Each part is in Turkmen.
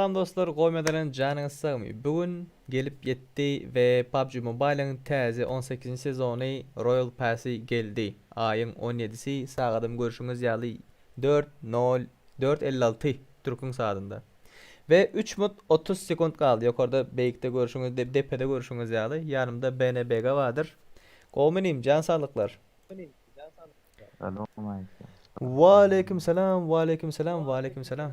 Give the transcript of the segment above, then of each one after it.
Salam dostlar goýmadanem janyňyz sagmy bu gün gelip ýetdi we PUBG Mobile'yň täze on sekizinji sezony Royal Passy geldi aýyň on ýedisi sagadym görşüňiz ýaly dört nol dört elli alty türküň saadynda we üç mut otuz sekunt galdy ýokarda beýikde görşüňiz depede görşüňiz ýaly ýanymda BNBG bardyr gowymy inim jan saglyklar. Salam aleýkum. Waleýkim salam waleýkim salam waleýkim salam.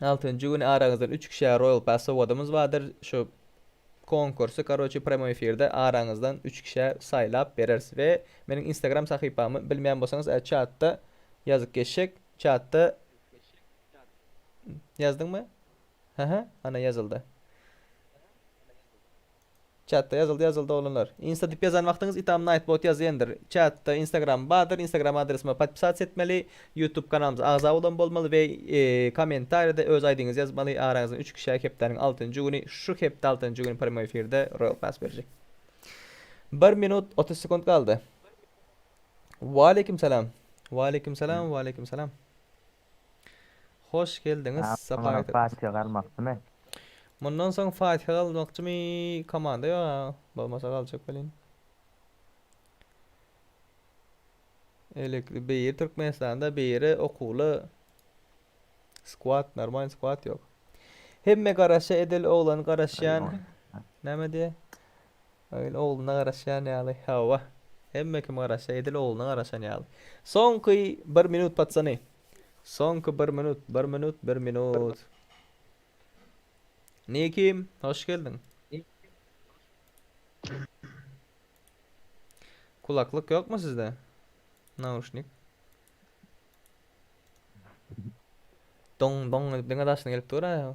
Altynjy güni araňyzdan üç kişä Royal Pass sowadymyz bardyr. Şu konkursy karoçi premoi efirde araňyzdan üç kişä saýlap bereris we meniň instagram sahypamy bilmeýän bolsaňyz e çatda ýazyp geçjek çatda ýazdyňmy? Hä hä ana ýazyldy. Çatda ýazyldy ýazyldy oglanlar. Insta dip ýazan wagtyňyz itam night bot ýazýendir. Çatda instagram bardyr instagram adresime podpisats etmeli ýutub kanalymyza agza bolan bolmaly we komentarýada öz aýdyňyzy ýazmaly araňyzdan üç kişä hepdäniň altynjy güni şu hepde altynjy güni premoi efirde royal pass berjek. Bir minut otuz sekunt galdy. Waleýkim salam. Waleýkim salam waleýkim salam. Hoş geldiňiz Sapa ýetim. Fatiha galmakdymy. Mundan soň Fatiha galmakçymy komanda ýok a bolmasa galjak welin. Elekli beýir Türkmenistanda beýire okuwly skwad normal skwad ýok. Hemme garaşa edil oglan garaşýan näme diýe. Öýn ogluna garaşýan ýaly. Hawa. Hemme kim garaşsa edil ogluna garaşan ýaly. Soňky bir minut paçjany. Soňky bir minut, bir minut, bir minut. Nikim, hoş geldiň. Kulaklyk ýokmy sizde? Nauşnik. Doň doň diňe daşyna gelip dur-a.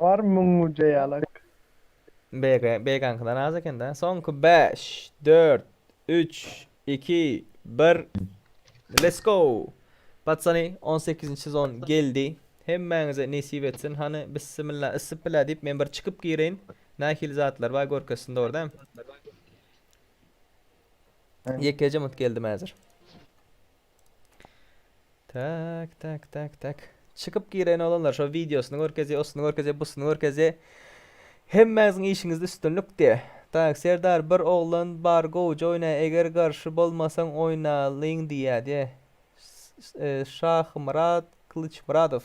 Bar müň güje ýalak. BG, BG-niňki dan az ekende. Soňky bäş, dört, üç, iki, bir. Let's go! Patsany on sekizinji sezon geldi. Hemmäňize nesip etsin. Hany bissimilla ysyp bilä diýip men bir çykyp gireýin. Nähili zatlar bar görkezsin dogry däm. Ýekeje mut geldim häzir. Tak, tak, tak, tak. Çykyp gireýin oglanlar, şo wideosyny görkezýä, osyny görkezýä, busyny görkezýä. Hemmäňiziň işiňizde üstünlik diýä. Tak, Serdar bir oglan bar gowja oýnaýa eger garşy bolmasaň oýnalyň diýýä diýä. Şahmyrat Kylyçmyradow.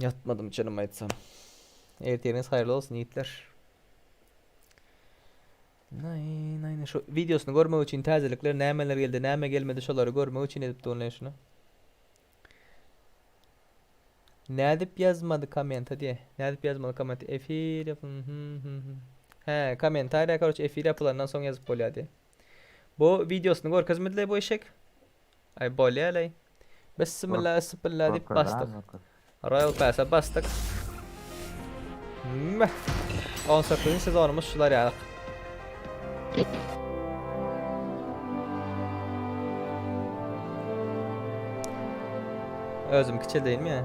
Ýatmadym çynymy aýtsam. Ertiriňiz haýyrly bolsun ýigitler. Nay nay nay şu videosyny görmek üçin täzelikler nämeler geldi näme gelmedi şolary görmek üçin edip durun şunu. Nädip ýazmady kommenta diýe. Nädip ýazmaly komment efir. He kommentariýa karoç efir ýapylandan soň ýazyp bolýar diýe. Bu wideosyny görkezmediler bu eşek. Ay bolýarlaý. Bismillah esbilla diýip basdyk. Royal Pass-a basdyk. Meh. 18-nji sezonumyz şular ýaly. Özüm kiçildeyim ya.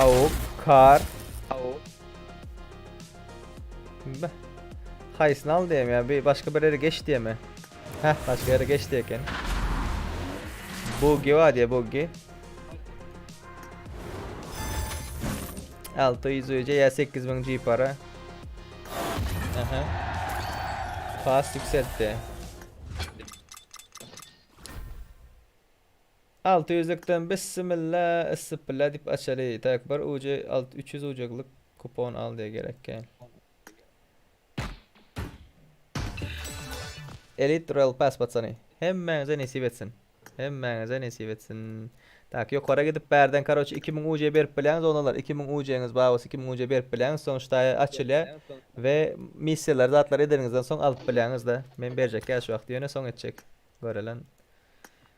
Awuk, kar. Awuk. Beh. Haýsyny al diýem ya, bir başga bir ýere geç diýemi? Heh, başga ýere geç diýe eken. Buggy bar diýe, buggy. 600 öýje ya 8000 G para. Aha. Pas yükseltti. Alty ýüzlükden bissimilla yssipilla diýip açaly. Taýk bir ujy alt üç ýüz ujyklyk kupon al diýe gerek kän. Elite Royal Pass patsany. Hemmäňize nesip etsin. Hemmäňize nesip etsin. Tak ýokara gidip bärden karoçe iki müň uje berip bilýäňiz onalar iki müň ujeňiz bar bolsa iki müň uje berip bilýäňiz soň ştaýa açylýa we missiýalar zatlar edeniňizden soň alyp bilýäňiz da men berjek ýa şu wagty ýöne soň etjek görelen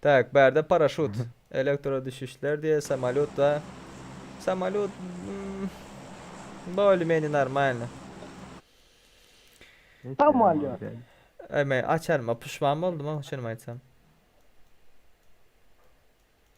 Tak, bärde paraşut, elektrodüşüşler diýe samolýot ba. Samolýot bolymeni normalny. Samolýot. Eme, açanyma puşman boldum, şuny aýtsam.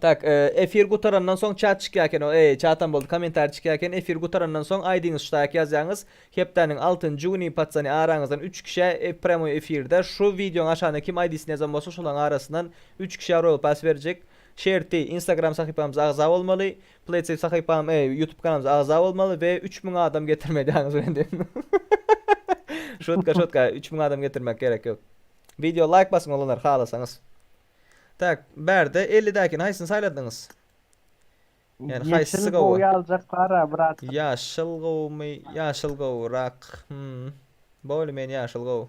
Tak efir gutarandan soň çat çykýaken o eý çatam boldy komentariý çykýaken efir gutarandan soň aýdyňyz şutaýak ýazýaňyz hepdäniň altynjy güni patsany araňyzdan üç kişä premoi efirde şu wideoň aşagyna kim aýdysyny ýazan bolsa şolaň arasyndan üç kişä royal pass berjek şerti instagram sahypamyza agza bolmaly pletsiv sahypam eý ýutub kanalymyza agza bolmaly we üç müň adam getirme edýaňyz bilen diýip şotka şotka üç müň adam getirmek gerek ýok wideo laýk basyň olanlar halasaňyz. Tak, bärde elli däkini haýsyny saýladyňyz? Ýani haýsysy gowy? Ýeşil gowy aljaklar-a brat. Ýaşyl gowumy? Ýaşyl gowurak. Hmmm. Bolýa men ýaşyl gowy.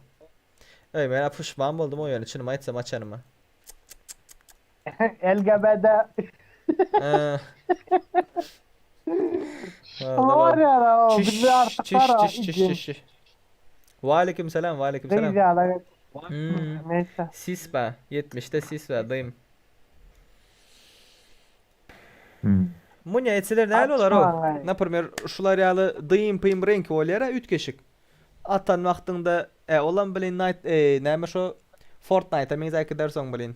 Öý men-ä puşman boldum-ow ýöne çynymy aýtsam açanyma. LGBT. Şoňa barýar-a-ow, bizde artyk bar-a, igim. Waleýkim salam waleýkim salam. Sis ba ýetmişde sis ba dym. Munya etseler näl bolar o naprmer şular ýaly dym pym renki bolýar a üýtgeşik atan wagtyňda e olam blin nayt e näme şo fortnayta meňzäki dersoň blin.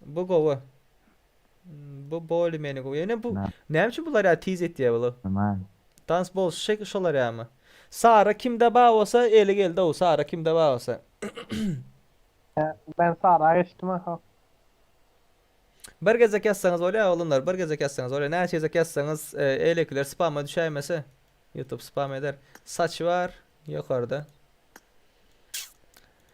Bu gowy. Bu boli meni gowy. Ýöne bu näme üçin bular ýa tiz etýär bular? Aman. Dans bol şek şolar ýamy. Sara kimde bar bolsa eli geldow Sara kimde bar bolsa. Ben Sara geçdim aha. Bir gezek ýazsaňyz bolýar oglanlar bir gezek ýazsaňyz bolýar näçe gezek ýazsaňyz eýlekiler spama düşäýmese YouTube spam eder saçy bar ýokarda.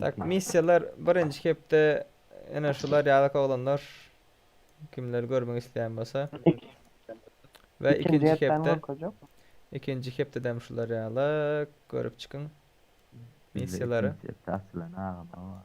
Tak missiýalar birinji hepde ene şular ýalyk oglanlar kimler görmek isleýän bolsa we ikinji hepde görkezjek. Ikinji hepdedem şular ýalyk görüp çykyň missiýalary. Açylan agama.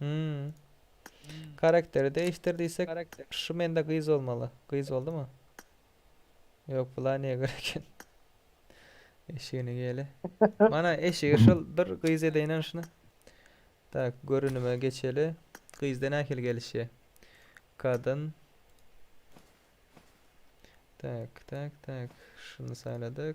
Hümm. Karakteri değiştir diýsek şu mende gyz bolmaly. Gyz boldumy? Ýok bula niye göre eken? Eşigini gele. Mana eşigi şol bir gyz edeýin şunu. Tak görünüme geçeli. Gyzda nähili gelişýär? Kadın. Tak tak tak şunu saýladyk.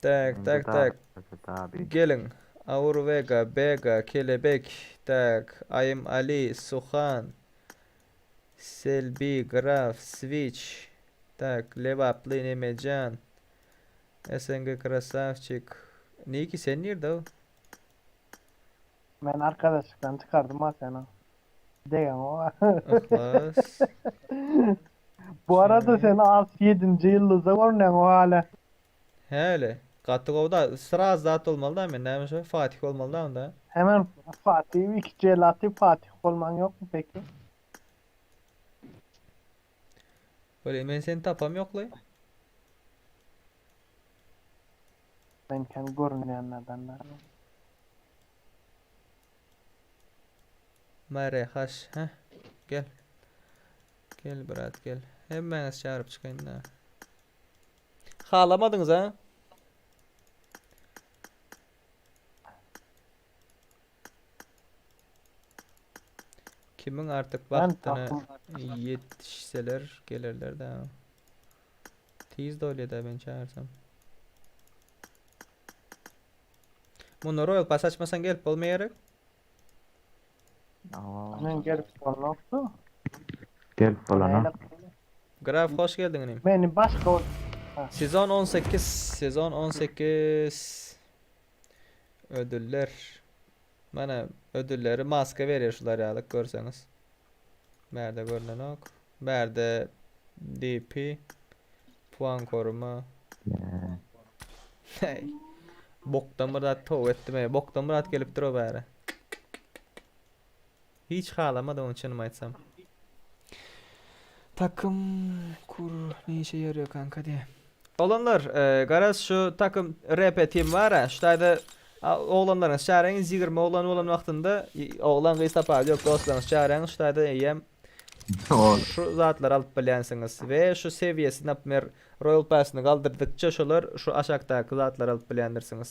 Tak Indi tak tak. daşlaşy tabi. Gelin. Aur Vega, Bega, Kelebek, tak, Aýym Ali, Suhan, Selbi, Graf, Switch, tak, Lebaply, Nemejan, SNG Krasawçik, Niki sen nirde-ow? Men arkadaşlykdan çykardym ha seni. Degen o. Yhlas. Bu arada sen as ýedinji ýyldyza görünýäň o hale. Häli. Gaty gowda. Sraz zat bolmaly da men näme şo Fatih bolmaly da onda. Hemen Fatih iki jelati Fatih bolmaň ýokmy peki? Weli men seni tapam ýokly. Men sen görünýänlerden däl. Mare haş he. Gel. Gel brat gel. Hemmäňiz çağırıp çykaýyn da. Halamadyňyz ha? Kimiň artyk wagtyna ýetişseler gelerler-de. Tiz doýlýar-da men çagyrsam. Munda roýal pas açmasaň gelip bolmaýar gerek. Men gelip bolmokdy. Gelip bolana. Graf hoş geldiň inim. Meni başga Sezon 18, sezon 18. Ödüller. Mana ödülleri maska berer şular ýalyk görseňiz. Bärde görünenok. Bärde DP puan koruma. Hey. Bokdan bir zat towp etdim. Bokdan bir zat gelipdir o bäre. Hiç halamady ony çynymy aýtsam. Takym kur ne işe ýarýa kanka de. Oglanlar garaz şu takym RP team bara şu taýda oglanlaryňyzy çaryňyz ýigrimi oglan bolan wagtynda oglan gyz tapawudy ýok dostlaryňyzy çaryňyz şu taýda eýýäm şu zatlary alyp bilýänsiňiz we şu sewiýesi napmer royal pass-yny galdyrdykça şolar şu aşakdaky zatlary alyp bilýändirsiňiz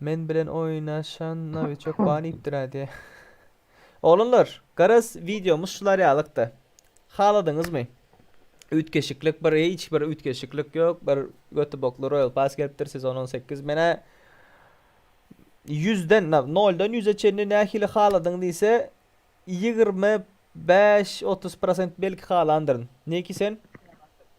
Men bilen oýnaşan nawiçok bar diýipdir-ä diýä. Oglanlar, garaz wideomyz şular ýalykdy. Haladyňyzmy? Üýtgeşiklik bir hiç bir üýtgeşiklik ýok. Bir götübokly Royal Pass gelipdir, sezon on sekiz. Men-ä ýüzden, na, noldan ýüze çenli nähili haladyň diýse, ýigrimi bäş, otuz prosent belki halandyryn. Neki sen?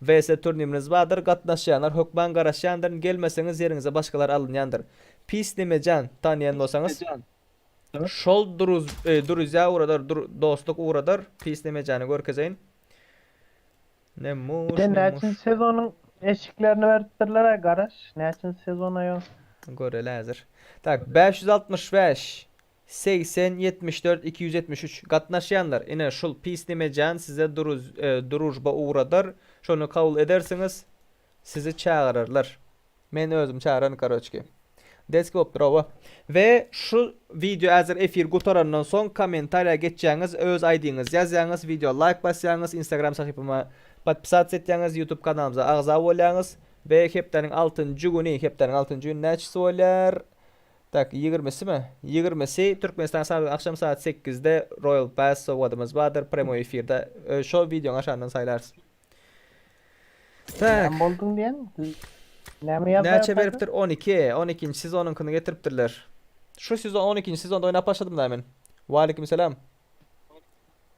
WC turniminiz bardyr gatnaşýanlar hökman garaşýandyrn gelmeseňiz ýeriňize başgalar alynýandyr pis nemejan tanyýan bolsaňyz şol duruz duruzýa ugradar dur dostluk ugradar pis nemejany görkezeýin Nemuş Sen nemuş. näçinji sezonyň eşiklerini beripdirler-ä garaş, näçinji sezon aýol? Göreli häzir. Tak, bäş ýüz altmyş bäş. Segsen ýetmiş dört iki ýüz ýetmiş üç Gatnaşýanlar, ine, şul pis nemejan size duruz, durujba ugradar, şony kabul edersiňiz, sizi çagyrarlar. Men özüm çagyran karoçki. Deski bop dur oba. We şu wideo azir efir gutarandan soň kommentariýa geçýäňiz, öz aýdyňyzy ýazýaňyz, wideo laýk basýaňyz, instagram sahypama podpisats etýäňiz, ýutub kanalymyza agza bolýaňyz we hepdäniň altynjy güni, hepdäniň altynjy güni näçesi bolýar? Tak, ýigrimisimi? Ýigrimisi, Türkmenistan sagat agşam sagat sekizde Royal Pass sowgadymyz bardyr, premoý efirde şo wideoň aşagyndan saýlarys. Tak. Näme bolduň diýen? Näme ýazmaýa başladym? Näçe beripdir? On iki, on ikinji sezonyňkyny getiripdirler. Şu sezon on ikinji sezonda oýnap başladym-da men. Waleýkimselam.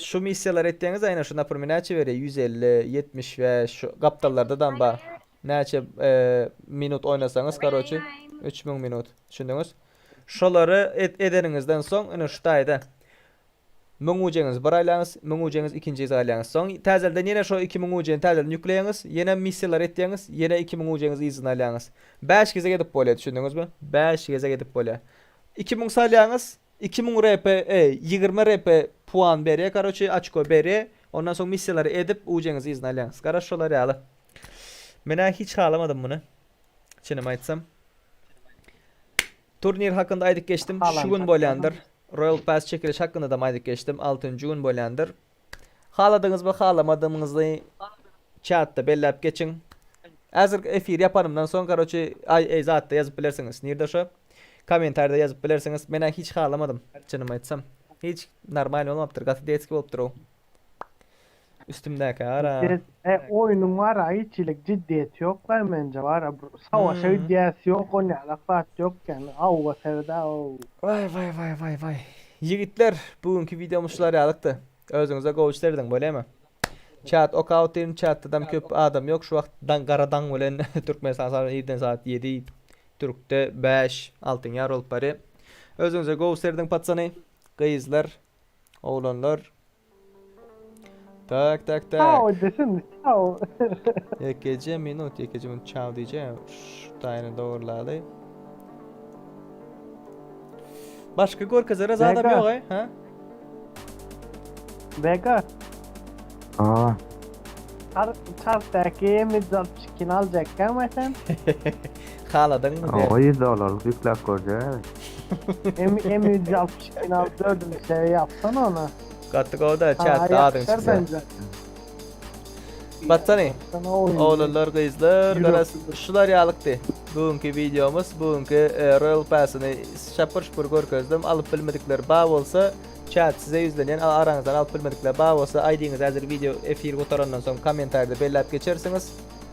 Şu missiýalary etdeňiz aýna şu naprmi näçe berýär ýüz elli ýetmiş bäş şu gapdallarda dam bar näçe minut oýnasaňyz karoçi üç müň minut düşündiňiz şolary edeniňizden soň ine şu taýda müň ujeňizi bir aýlaňyz müň ujeňizi ikinji gez aýlaňyz soň täzelden ýene şo iki müň ujeni täzelden ýükleýäňiz ýene missiýalary etýäňiz ýene iki müň ujeňizi yzyna aýlaňyz bäş gezek edip bolýar düşündiňizmi bäş gezek edip bolýar iki müň salýaňyz Iki müň RP e ýigrimi RP puan berýä karoçi açko berýä ondan soň missiýalary edip ujeňizi yzyna alýaňyz garaş şolar ýaly menä hiç halamadym muny çynymy aýtsam turnir hakynda aýdyp geçdim şu gün bolýandyr royal pass çekiliş hakyndadam aýdyp geçdim altynjy gün bolýandyr. Haladyňyzmy, halamadymyňyzy çatda belläp geçiň. Häzirki efir ýapanymdan soň karoçi aý eý zatda ýazyp bilersiňiz. Nirde şo? Komentarida ýazyp bilersiňiz. Menä hiç halamadym, çynymy aýtsam. Hiç normalny bolmapdyr, gaty detski bolupdyr ow. Üstümdäkä gara. Desse oýnuň bara hiç hilik jiddiýeti ýokay menje bara bir savaşa gidýäsi ýok onýalak zat ýok ýagny awga serde aw. Waý waý waý waý waý. Ýigitler bu günki wideomyz şular ýalykdy. Özüňize gowy serediň bolýamy? Çat ok out diýdim çatdadam köp adam ýok şu wagt daň gara daň bilen Türkmenistan sagat bilen irden sagat ýedi Türkde bäş altyn ýar bolup barýa. Özüňize gowy serediň patsany gyzlar oglanlar. Tak tak tak. Çao desin, çao. Ýekeje minut, ýekeje minut çao diýjäň. Şu taýyny dogurlaly. Başga görkezere zadam Vega. ýoga, ha? Vega, Aa, çar çartdaki mizal çikin aljakkan sen. Haladyňmy sen? Oňa ýüz dollarlyk ýükläp görjäýeli. M ýüz altmyş ikini alyp dördünji seýe ýapsana ony. Gaty gowda çatda adyň çyksa. Batsany oglanlar gyzlar garaz şular ýalykdy bu günki wideomyz bu günki royal passyny şapur şupur görkezdim alyp bilmedikler bar bolsa çat size ýüzlenýän araňyzdan alyp bilmedikler bar bolsa aýdyňyz häzir wideo efir gutarandan soň kommentarýada belläp geçersiňiz